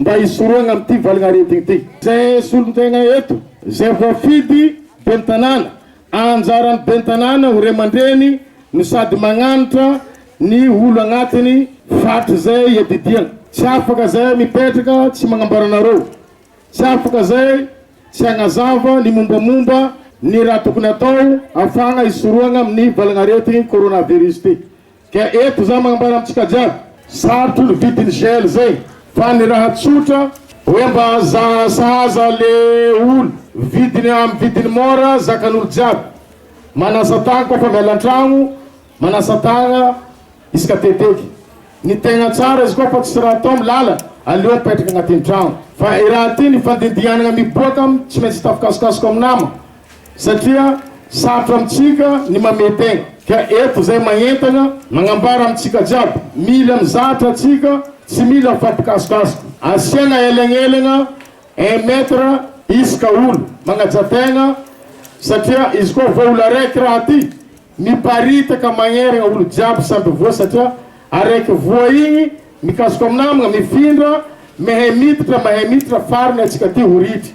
Mba hisorohana amin'ity valin'aretina ity. Izay solontenga eto, izay voafidy, Ben'ny tanàna. Anjaran'ny Ben'ny tanàna ho ray aman-dreny no sady magnanatra ny olo agnatiny faritra izay iadidiany. Tsy afaka izay mipetraka tsy magnambara anareo, tsy afaka izay tsy hagnazava ny mombamomba ny raha tokony atao afahagna hisorohagna amin'ny valin'aretigny coronavirus ity. Dia eto izaho manambara amintsika jiaby, sarotro ny vidin'ny gel zay, fa ny raha tsotra, hoe mba sahaza le ol vidiny amin'ny vidiny mora, zakan'olo jiaby, manasa tany koa fa miala antragno, manasa tagna isaka teteky, ny tegna tsara izy koa fa tsisy raha atao milala, aleo mipetraka agnatin'ny tragno, fa i raha ty nifandindihanagna miboaka, tsy maintsy hita fikasokasoko amin'ny nama. satria sarotra amintsika ny mamete ka eto zay maentana magnambara amintsika jiaby mila mizatra tsika tsy mila mifampikasokasoka asiana elegnelagna un mètre isaka olo magnaja tegna satria izy koa vao olo araiky raha ty miparitaka magneragne olo jiaby samby voa satria araiky voa igny mikasoka minamagna mifindra mehe miditra mahe miditra farany atsika ty ho ritry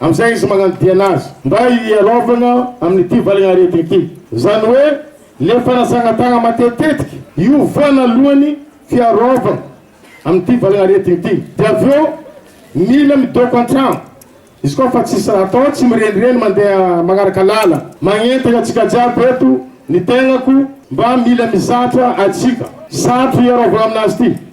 Amin'izay izy magnadihana azy mba hiarovana amin'ity valiny aretina ity, izany hoe le fanasana tagna matetitetika io voanalohany fiarovana amin'ity valiny aretina ity, de avy eo mila midoko antragno izy koa fa tsisy raha atao, tsy mirenireny mandeha magnaraka lala, magnentagna atsika jiaby eto ny tegnako mba mila mizatra atsika, sarotro hiarovana aminazy ity.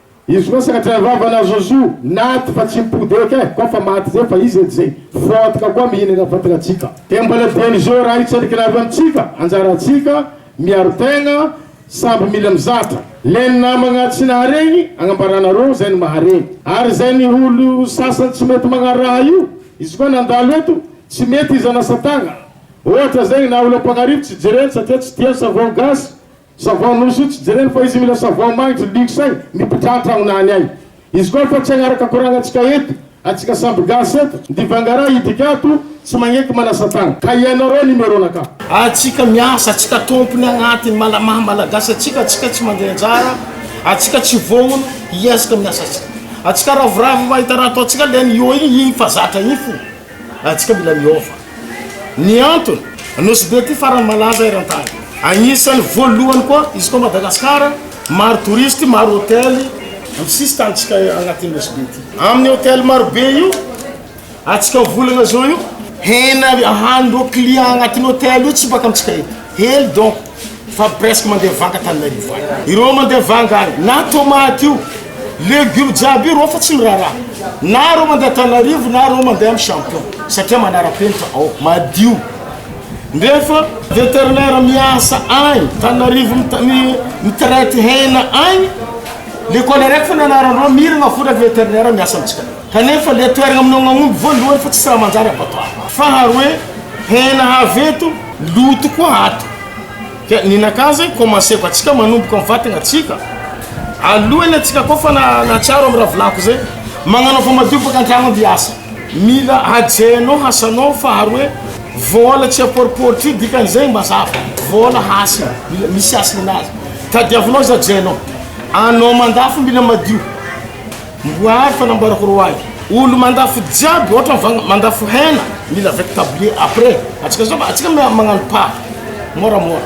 Izy koa sady avavana à Zozo naty fa tsy mipody eky eh koa fa maty zay fa izy edy zay foantika koa mihinana fatinantsika. Dia mbola dieny zo raha hitsalikana avy amintsika anjarantsika miaro tegna samby mila mizatra. Leny namagna tsy naharegny agnambaranareo zay ny maharegny ary zay ny olo sasany tsy mety magnano raha io izy koa nandalo eto tsy mety izy anasa tagna ohatra zegny na olo ampagnarivo tsy jereny satria tsy tiany savon gasy Savon Nosso tsy jereny fa izy mila savon magnitry luxe ny mpidra antragnona any ay izy koa fa tsy agnaraka koragnantsika eto atsika samby gasy eto ndivangara idika ato tsy magneky manasa tagna ka ianao reo numéro na ka. Atsika miasa atsika tompony agnaty ny mala maha malagasy atsika atsika tsy mande anjara atsika tsy vognono hiezaka miasa atsika atsika ravoravo mahita raha ataontsika leny io igny igny fa zatra igny fo atsika mila miova. Ny antony, Nosy be ity farany malaza eran-tany. Anisan'ny voalohany koa izy koa Madagasikara, maro touristes, maro hotely amin'ny sisin-tanintsika anatin'ny Nosy be ity. Amin'ny hotely maro be io atsika volana zao io, hena ahan'ireo clients anatin'ny hotely io tsy baka amintsika ety, hely donc. fa presque mandeha vanga Tananarivo any. Ireo mandeha vanga any, na tomate io, légumes jiaby io, ireo fa tsy miraharaha. Na ireo mandeha Tananarivo, na ireo mandeha amin'ny champion, satria manara-penitra ao, madio. Nefa vétérinaire miasa any Tananarivo mitraite hena any, l'école araiky fona anaran-dreo, miragna fona vétérinaire miasa amintsika. Kanefa le toeragna aminao gn'aomby voalohany fa tsisy raha manjary abattoir. Faharoe, hena avy eto, loto koa ato. Ka ninakà zay commenceko atsika manomboka am vatagna atsika alohany atsika koa fa na natsiaro am raha volako zay magnanao fa madio baka antragno aby hiasa. Mila hajainao hasanao faharoe vôla tsy apôripôritry io dikany zay mazava vôla hasina mila misy hasina azy tadiavinao izy hajainao anao mandafo mila madio. Mboary fanamboarako ro ahy olo mandafo jiaby ohatran fa mandafo hena mila avec tablier après atsika zao atsika magnano pa mora mora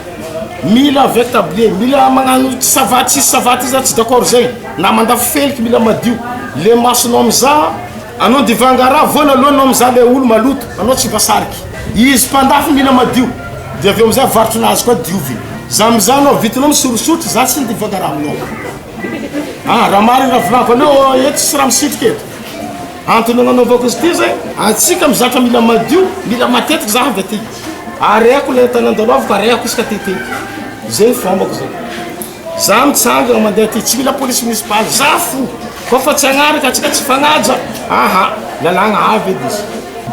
mila avec tablier mila magnano savaty sisy savaty za tsy d'accord zegny na mandafo feliky mila madio le masonao mizaha anao divanga raha voana aloha anao mizaha le olo maloto anao tsy mpasariky izy mpandafo mila madio de avy eo amizay avarotro nazy koa diovy za mizaha anao vitinao misorosotry za tsy ny divanga raha aminao Ah, raha marina raha volako anao oh, eto tsisy raha misitrika eto. Antony nanaovako izy ity zay, antsika mizatra mila madio, mila matetika za avy aty. Ariako ilay entana andalovanko, ariako izy ka tete. Zay ny fombako zay. Za mitsangana mandeha aty, tsy mila police municipale, za fo. Fa fa tsy agnaraka antsika tsy fagnaja. Aha, lalagna avy edy izy.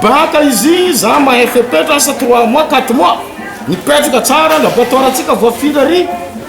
Baka izy, za mahay fepetra asa trois mois, quatre mois. Mipetraka tsara, laboratoire antsika voafilary.